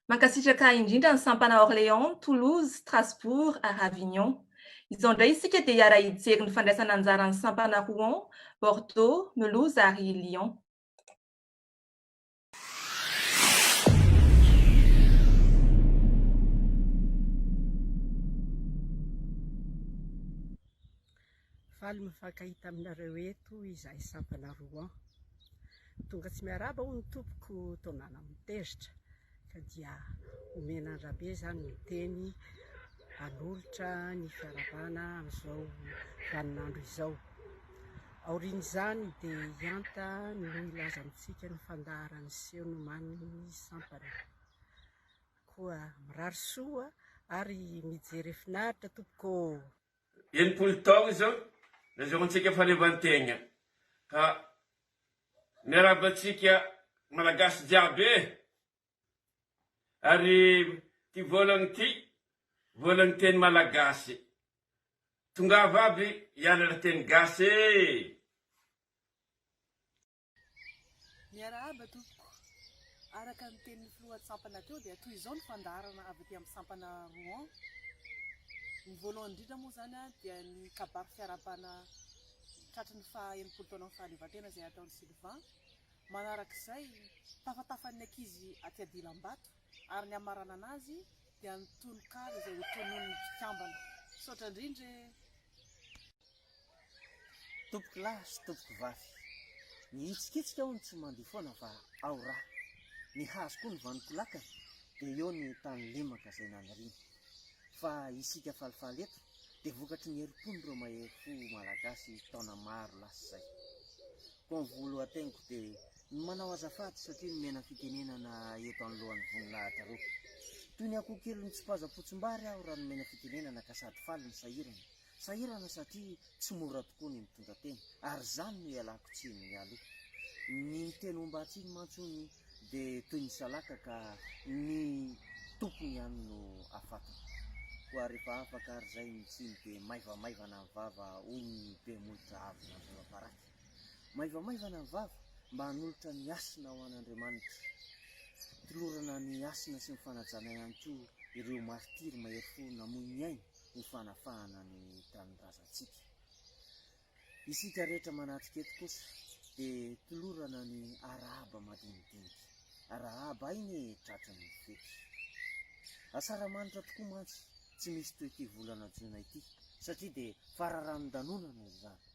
Mankasitraka indrindra ny sampana Orléans, Toulouse, Strasbourg ary Avignon. Izao indray isika dia hiara-hijery ny fandraisana anjaran'ny sampana Rouen, Bordeaux, Melouse ary Lyon. Faly mifankahita aminareo eto izahay sampana Rouen. Tonga tsy miarahaba hono ny tompoko Tonala Mitezitra ka dia omena an-dRabe izany ny teny hanolotra ny fiarahabana amin'izao vaninandro izao. Aorian'izany dia i Anta no hilaza amintsika ny fandaharan'ny seho nomanin'ny sampana. Koa mirary soa ary mijery finaritra tompoko ô! Enimpolo taogna izao nazahoantsika fahaleovantegna ka miarahaba antsika malagasy jiaby e! Ary ty volagny ty, volagny teny malagasy. Tongava aby hianatra teny gasy ee. Miarahaba tompoko. Araka ny tenin'ny filohan'ny sampana teo dia toy izao ny fandaharana avy aty amin'ny sampana Rouen. Ny voalohany indrindra moa izany dia ny kabary fiarahabana tratry ny faha enimpolo taonan'ny fahaleovantena izay ataon'i Sylvain. Manarak'izay, tafatafan'ny ankizy aty Adilambato ary ny hamaranana azy dia ny tononkalo izay ho tononin'ny mpikambana. Misaotra indrindra e! Tompoko lahy sy tompoko vavy, mihitsikitsika aho ny tsy mandio foana fa ao ra. Ny hazo koa ny vanoko lakana dia eo ny tany lemaka izay naniriana. Fa isika falifaly eto dia vokatry ny herim-pon'ireo mahery fo malagasy taona maro lasa izay. Bon volo hateniko de ny manao azafady satria nomena fitenenana eto anoloan'ny voninahitra reo. Toy ny akoho kely mitsipaza potsimbary aho raha nomena fitenenana ka sady faly no sahirana. Sahirana satria tsy mora tokoa ny mitondra teny ary izany no ialako tsiny mialoha. Ny miteny homba tsiny mantsy hono de toy ny salaka ka ny tompony ihany no afatony. Koa refa afaka ary zay ny tsiny de maivamaivana ny vava hoy ny be molotra avy nandroa baraky. Maivamaivana ny vava mba hanolotra ny hasina ho an'Andriamanitra. Tolorana ny hasina sy ny fanajana ihany koa ireo martiry mahery fo namoy ny ainy ho fanafahana ny tanindrazantsika. Isika rehetra manatrika eto kosa dia tolorana ny arahaba madinidinika. Arahaba aina e tratry ny fety. Asaramanitra tokoa mantsy tsy misy toy ity volana Jona ity satria dia fararanon-danonana izany.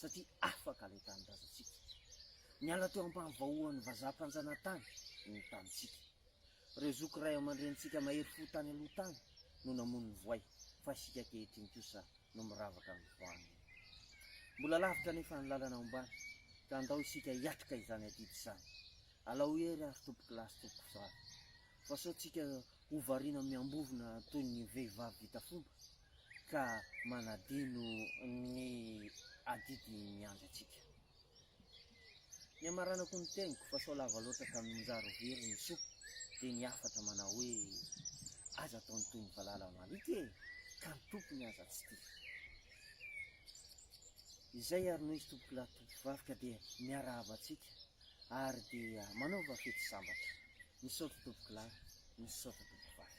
satria afaka ilay tanindrazantsika. Niala teo ampahavaoan'ny vazaha mpanjanatany ny tanintsika. Ireo zoky ray aman-drenintsika mahery fo tany aloha tany no namono ny voay, fa isika ankehitriny kosa no miravaka amin'ny voany. Mbola lavitra anefa ny lalana ombana, ka andao isika hiatrika izany adidy izany. Alao hery ary tompokilahy sy tompokovavy, fa sao tsika ho variana miambovona toy ny vehivavy vita fomba? ka manadino ny adidy miandry antsika. Ny hamaranako ny teniko fa sao lava loatra ka mianjary ho very ny soa dia ny hafatra manao hoe aza ataony toy ny valala maloto e! ka ny tompony aza tsy tia. Izay ary noizy tompokolahy tompokovavy ka dia miarahaba antsika ary dia manaova fety sambatra. Misaotra tompokolahy, misaotra tompokovavy.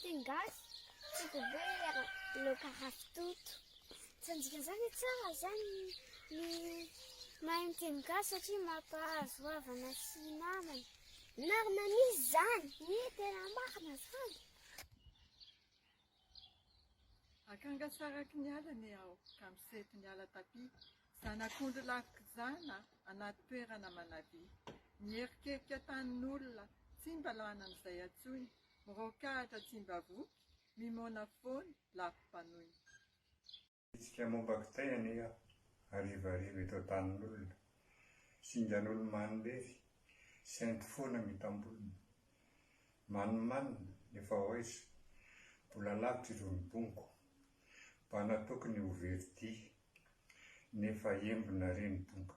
Teny gasy, tsy dia be ny laoka ravitoto. Tsy hanjika izany tsara izany ny mahay miteny gasy satria mampahazo havana sy namana. Marina misy izany. Ie, tena marina izany. Akanga saraky ny ala ne aho ka miseto ny ala tapia Zanak'ondry lavik'izana anaty toerana manavia Mierikerika tanin'olona tsy mba lany amin'izay antsoiny Mirôkahatra tsy mba voky, mimôna foana, lafim-panoina. Hetsika momba kitay anie aho, harivariva eto an-tanin'olona. Singan'olo-manina lery, sento foana mitam-bolona. Manimanina, efa hoaiza, mbola lavitra irony bongo. Mba natokony ho veridia, nefa embona re ny bonga.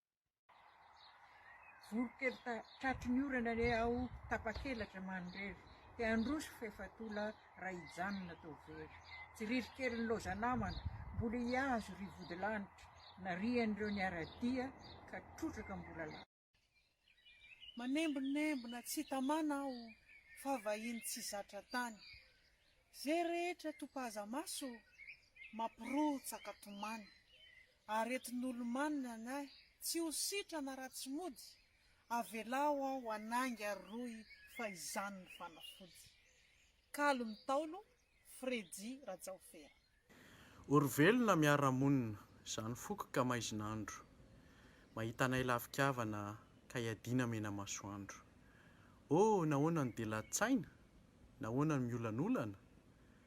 Voronkely tratry ny orana re aho tapakelatra mandrery te handroso f'efa tola raha hijanona toa very tsy ririkelin'ny loza namana mbola hihazo ry vodilanitra narian'ireo niara-dia ka trotraka mbola lany. Manembonembona tsy tamana aho fa vahiny tsy zatra tany ze rehetra topaza maso mapirotsaka tomany Aretin'olo-manina ny ahy, tsy ho sitrana raha tsy mody, avelao aho hanainga ary rohy fa izany ny fanafody. Kalo ny Ntaolo, Freddy Rajaofera. O ry velona miara-monina, izany foko ka maizin'andro, mahita anay lafi-kavana ka iadiana mena masoandro. Oh nahoana no dia lats'aina? Nahoana no miolanolana?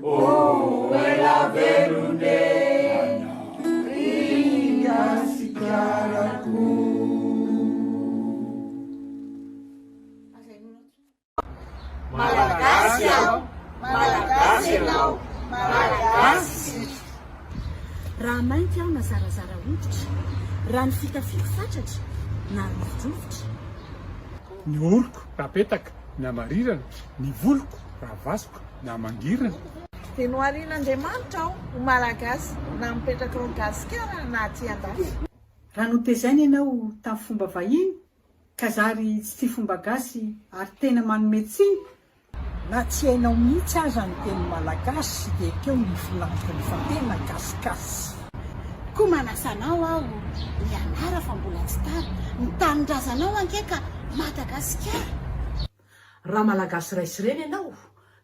Oh ela velone i Gasikarako. Malagasy aho, Malagasy ianao, Malagasy isika. Raha mainty aho na zarazara hoditra, raha ny fitafiako fatratra na rovidrovitra. Ny oroko raha petaka na marirana, ny voloko raha vaso. na mangirana. Dia noharian'Andriamanitra aho ho Malagasy na mipetraka ao Gasikara na aty andafy. Raha notezaina ianao tamin'ny fomba vahiny ka zary tsy tia fomba gasy ary tena manome tsiny, na tsy hainao mihitsy aza ny teny malagasy dia ekeo ny filantony fa tena gasigasy. Koa manasa anao aho hianara fa mbola tsy tara. Ny tanindrazanao ange ka Madagasikara. Raha malagasy ray sy reny ianao,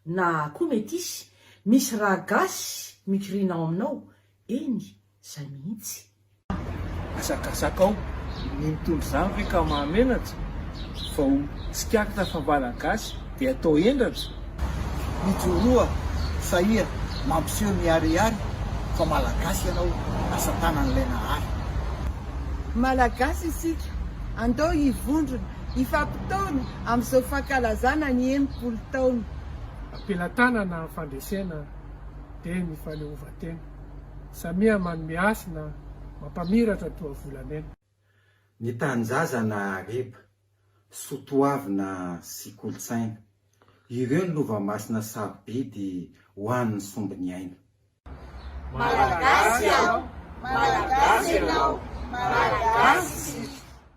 na koa metisy, misy raha gasy mikiriana ao aminao, eny, zay mihitsy. Hazakazakao ny mitondra izany ve ka mahamenatra, vao tsikaritra fa malagasy dia atao hendratra? Mijoroa fa iha mampiseho ny harihary fa malagasy ianao, asa tanan'ilay nahary. Malagasy isika, andao hivondrona. hifampitaona amin'izao fankalazana ny enimpolo taona. Am-pelatanana amin'ny fandresena dia ny faleovan-tena, samia manome hasina mampamiratra toa volamena. Ny tanjaza na hareba, soatoavina sy kolontsaina, ireo ny lova masina sarobidy ho an'ny sombin'ny aina. Malagasy aho, Malagasy ianao, Malagasy isika.